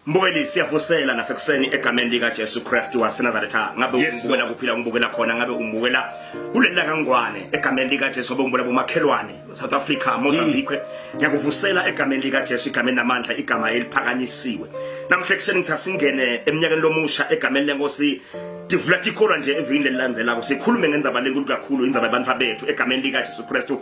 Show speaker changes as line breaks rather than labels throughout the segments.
Mbukeli siyavusela ngasekuseni egameni lika Jesu Kristu waseNazaretha ngabe yes, umbukela kuphila umbukela khona ngabe umbukela ulela kangwane egameni lika Jesu ngabe umbukela bomakhelwane South Africa Mozambique mm. ngiyakuvusela mm. egameni lika Jesu igameni namandla igama eliphakanyisiwe namhle kuseni ngithatha singene eminyakeni lomusha egameni lenkosi tivula tikholwa nje evikini lelilandzelako sikhulume ngenzaba lenkulu kakhulu indzaba yabantu bethu egameni lika Jesu Kristu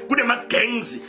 kunema-gangs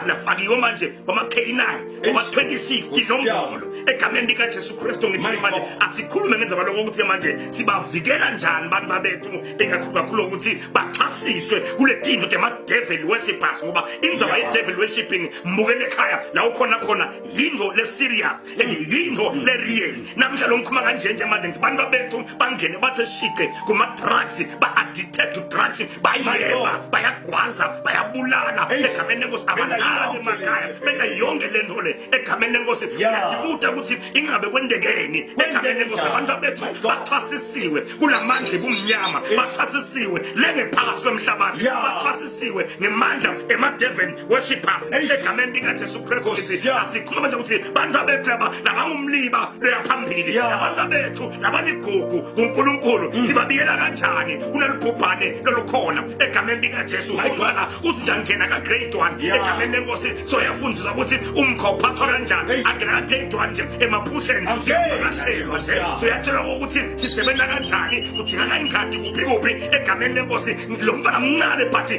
nafakiwe manje kwama-k9 kwama-26 tinombolo egameni likajesu kristu ngithini manje asikhulume ngenza baloko ukuthi manje sibavikela njani abantu babethu ikakhulu kakhulu ukuthi baxhasiswe kule tinto tema-devil worshippers ngoba indzaba ye-devil worshipping mbukele ekhaya la ukhona khona yinto le-serious lengiyinto leriyeli namhla lo ngikhuluma kanje nje manje ngithi bantwa bethu bangene bathe shiqe kuma-drugs ba-addicted to drugs bayeba bayagwaza bayabulala egameni lenkosi abalali emakhaya benza yonke le nto le egameni lenkosi yayibuta ukuthi ingabe kwendekeni egameni lenkosi abantu bethu baxhasisiwe kula mandla ebumnyama baxhasisiwe lengephakathi kwemhlabathi baxhasisiwe ngemandla emadeveni worship us egameni likaJesu Kristu asikhuluma nje ukuthi bantu abethu aba nabangumliba beyaphambili nabantu abethu nabanigugu kuNkulunkulu mm. sibabiyela kanjani kunelibhubhane lolukhona egameni likaJesu ungcwala uthi njani ngena ka grade 1 egameni lenkosi soyafundisa ukuthi umkha uphathwa kanjani angena ka grade 1 nje emaphusheni siyakashelwa nje soyatshelwa ukuthi sisebenza kanjani kudingaka ingadi kuphi kuphi egameni lenkosi lo mfana mncane but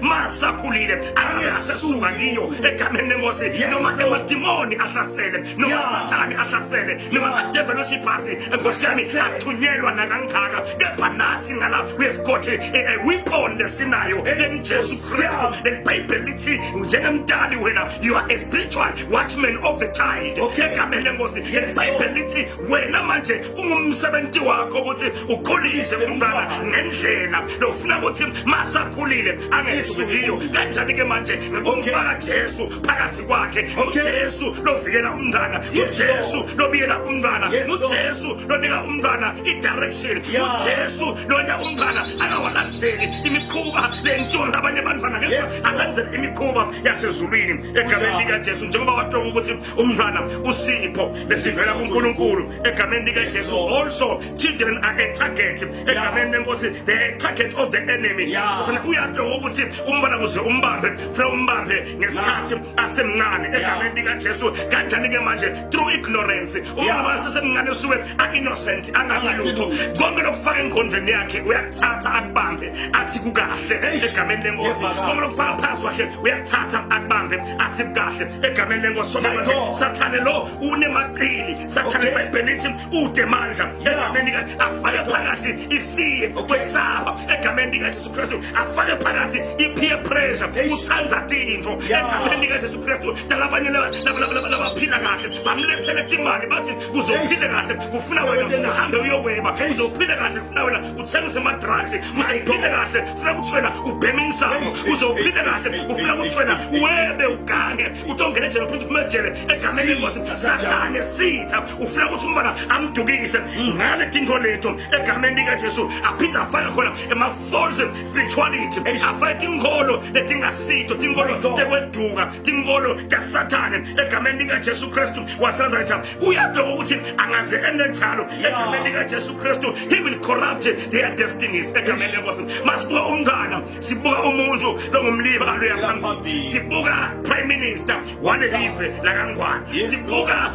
masakhulile angasesuka ngiyo egameni lenkosi noma emadimoni ahlasele noma sathane ahlasele noma amadeveli oshibhasi enkosi yami athunyelwa nakangaka kepha nathi ngala we've got a weapon lesinayo elingujesu kristu lelibhayibheli lithi njengemdali wena you are a spiritual watchman of the child egameni lenkosi lelibhayibheli lithi wena manje kungumsebenzi wakho ukuthi ukhulise umntwana ngendlela lokufuna ukuthi masakhulile angesukiyo kanjani ke manje ngokumfaka Jesu phakathi kwakhe uJesu lovikela umntwana uJesu lobiyela umntwana uJesu lonika umntwana i-direction uJesu lonya umntwana angawalandzeli imikhuba lentiwa ngabanye abantwana ngeke alandzele imikhuba yasezulwini egameni likaJesu njengoba watoka ukuthi umntwana usipho besivela kunkulunkulu egameni likajesu also children are a target egameni lenkosi they are a target of the enemy sofana uyaphi ukuthi umntwana kuze umbambe funa umbambe ngesikhathi asemncane egameni likajesu kanjani ke manje through ignorance umntwana wasesemncane usuke a-innocent angakalutho konke lokufaka engqondweni yakhe uyakuthatha akubambe athi kukahle egameni lenkosi konke lokufaka phansi wakhe uyakuthatha akubambe athi kahle egameni lenkosi somanje sathane lo unemaqili sathane ibhayibheli lithi ude mandla egameni afake phakathi ifiye kwesaba egameni likajesu kristu afake phakathi i-peer pressure uthanda tinto egameni likajesu kristu talabanye labaphila kahle bamlethele timali bathi kuzophile kahle kufuna wena uhambe uyokweba uzophile kahle kufuna wena uthengise amadrugs kuze uphile kahle funa ukuthi wena ubheme insango kuze uphile kahle ufuna ukuthi wena webe ugange utongena ejele uphinde uphume ejele egameni lengosi sathane esitha ufuna ukuthi umntwana amdukise ngale tintfo lethu egameni likajesu aphinde afake khona ema-false spirituality afake tinkholo letingasito tinkholo tekweduka tinkholo tasathane egameni likajesu kristu wasazaja uyabheka ukuthi angaze enenjalo egameni likajesu kristu he will corrupt their destinies egameni lenkosi masibuka umntwana sibuka umuntu longumliba aluya phambili sibuka prime minister walelive lakangwane sibuka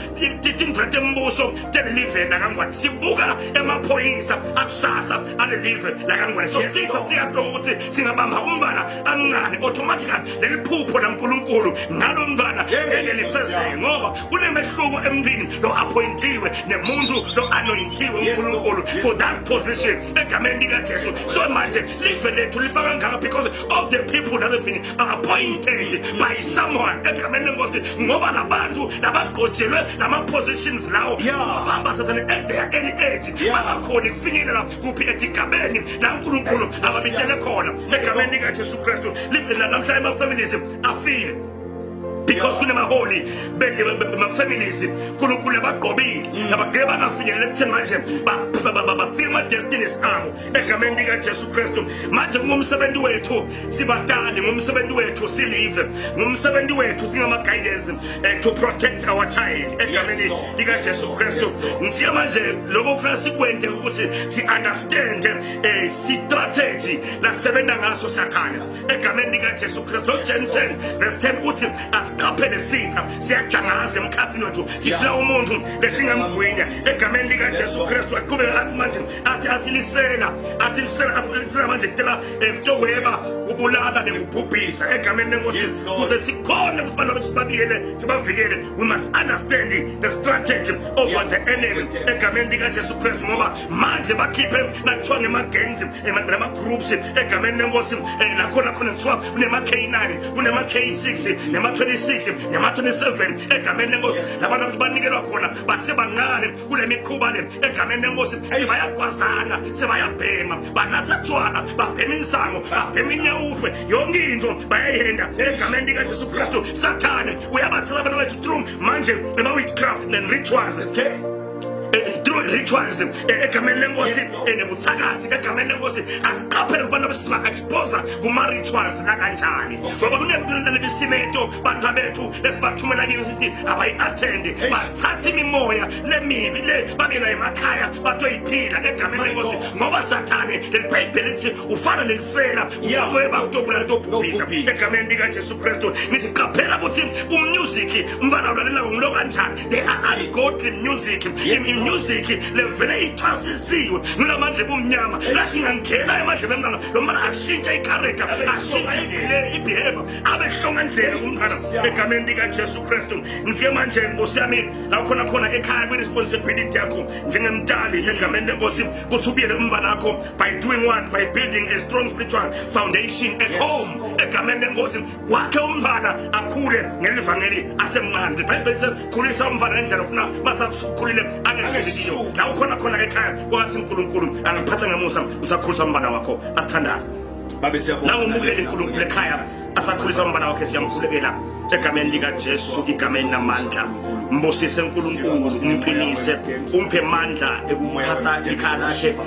tindret embuso telelive lakangwane sibuka emaphoyisa akusasa alelive lakangwane so sitha siyabheka ukuthi singabamba umntwana amncane automatically leliphupho lankulunkulu ngalo mntwana ngeke lifezeke ngoba kunemehluko emntwini lo appointiwe nemuntu lo anointiwe uNkulunkulu for that position egameni likaJesu so manje live lethu lifaka ngaka because of the people that have been appointed by someone egameni lenkosi ngoba labantu labagqojelwe lama positions lawo bamba sathane at their any age bangakhoni kufinyelela kuphi etigabeni la uNkulunkulu ababitele khona egameni likaJesu Kristu live namhla ema families afile because kunemaholi ma-families nkulunkulu abagqobile mm. abagele bangafinyeleli ekutheni manje bafika ama-destinies abo egameni likajesu kristu manje kungumsebenzi wethu sibadali ngumsebenzi wethu silive ngumsebenzi wethu singama-guidance eh, to protect our child egameni likajesu kristu ngithiya manje lokho kufuna sikwente ukuthi si-understande um eh, si-strategy lasebenza ngaso sathane egameni likajesu kristu lojan 10 verse 10 uthi asiqaphele sitha siyajangaza emkhathini wethu sifuna umuntu lesingamgwinya egameni likajesu kristu aqhubeke athi manje athi athi lisela athi lisela athi lisela manje kutela emtokweba eh, ubulala nekubhubhisa egameni lenkosi kuze sikhone ukuthi abantu bethu sibabiyele sibavikele we must understand the strategy of the enemy egameni likajesu kristu ngoba manje bakhiphe nakuthiwa ngema-gangs nama-groups egameni lenkosi eh, nakhona khona kuthiwa kunema-k9 kunema-k6 nema-26 nema-27 egameni lenkosi labantu abantu banikelwa khona basebancane kule mikhuba le egameni lenkosi sebayagwazana sebayabhema banatha tshwala babhema insango babhema inyawufe yonke into bayayihenda egameni likajesu kristu sathane uyabathela abantu bethu trum manje ema-witchcraft and rituals okay ritualism egameni lenkosi enebuthakathi egameni lenkosi asiqaphele kubantu abesiba-exposa kuma-rituals akanjani ngoba kunebisimeto bantu bethu esibathumela kini sithi abayi-athendi bathatha imimoya lemibi le babe nayo emakhaya batoyiphila egameni lenkosi ngoba sathane leli bhayibheli lithi ufana nelisela uyakweba utobulala tobhubhisa egameni likajesu kristu ngithi qaphela ukuthi umnyuziki umfana ulalela ngomlo kanjani They are ungodly music. Yes. In music levele ithwasisiwe ngilamandla ebumnyama lathi ngangena emadlebe mntana lo mntana ashintshe icharacter ashintshe ibehavior abe hlonga ndlela kumntana egameni likajesu kristu ngithiye manje nkosi yami lakhona khona ekhaya kwi-responsibility yakho njengemdali egameni lenkosi kuthi ubuyele umva lakho by doing what by building a strong spiritual foundation at home egameni lenkosi wakhe umfana akhule ngelivangeli asemncane ibhayibheli sekhulisa umfana ngendlela ofuna masakhulile angehlelikiyo la ukhona khona ekhaya kwathi unkulunkulu angakuphatha ngemusa usakhulisa umfana wakho asithandaze babe siyabonga
nangomukele unkulunkulu ekhaya
asakhulisa umfana wakhe siyamkhulekela egameni likajesu igameni namandla mbusise unkulunkulu umqinise umphe mandla ekuphatha ikhaya lakhe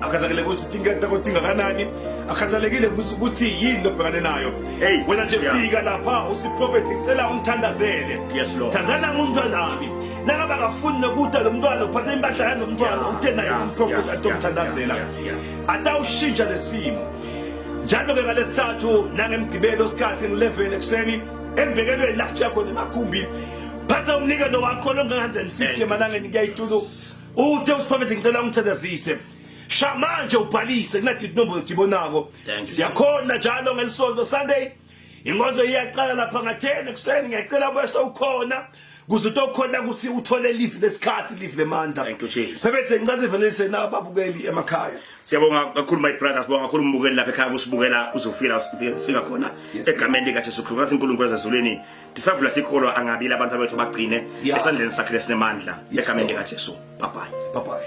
akhathalekile ukuthi tinketha kodwa ingakanani akhathalekile futhi ukuthi yini into obhekane nayo hey wena nje fika lapha uthi prophet ngicela ungithandazele yes lord thazana umntwanami nangaba akafuni nokuda lo mntwana uphathe impahla yalo mntwana uthe naye umprofethi atomthandazela atawushintsha lesimo njalo ke ngalesithathu nangemgibelo sikhathi ngi-11 ekuseni embekelweni lakhe yakhona emagumbi phatha umnikelo wakho longanganze ndifike emalangeni kuyayituluka Uthe uSiphamezi ngicela ungithethezise. Sha manje ubhalise kunathi inombo ejibonako. Siyakhona njalo ngelisonto Sunday. Inkonzo iyaqala lapha ngathene kuseni ngiyacela bese ukhona kuze utokhona ukuthi uthole live lesikhathi live lemandla. Thank you Jesus. Sebethe
ngicela sivelise
na babukeli emakhaya. Siyabonga kakhulu
my brother sibonga kakhulu umbukeli lapha ekhaya usibukela uzofika sifika khona egameni lika Jesu Kristu. Ngasi uNkulunkulu ezulwini ndisavula thi ikolo angabile abantu abethu bagcine esandleni
sakhe
lesinemandla egameni likajesu bye bye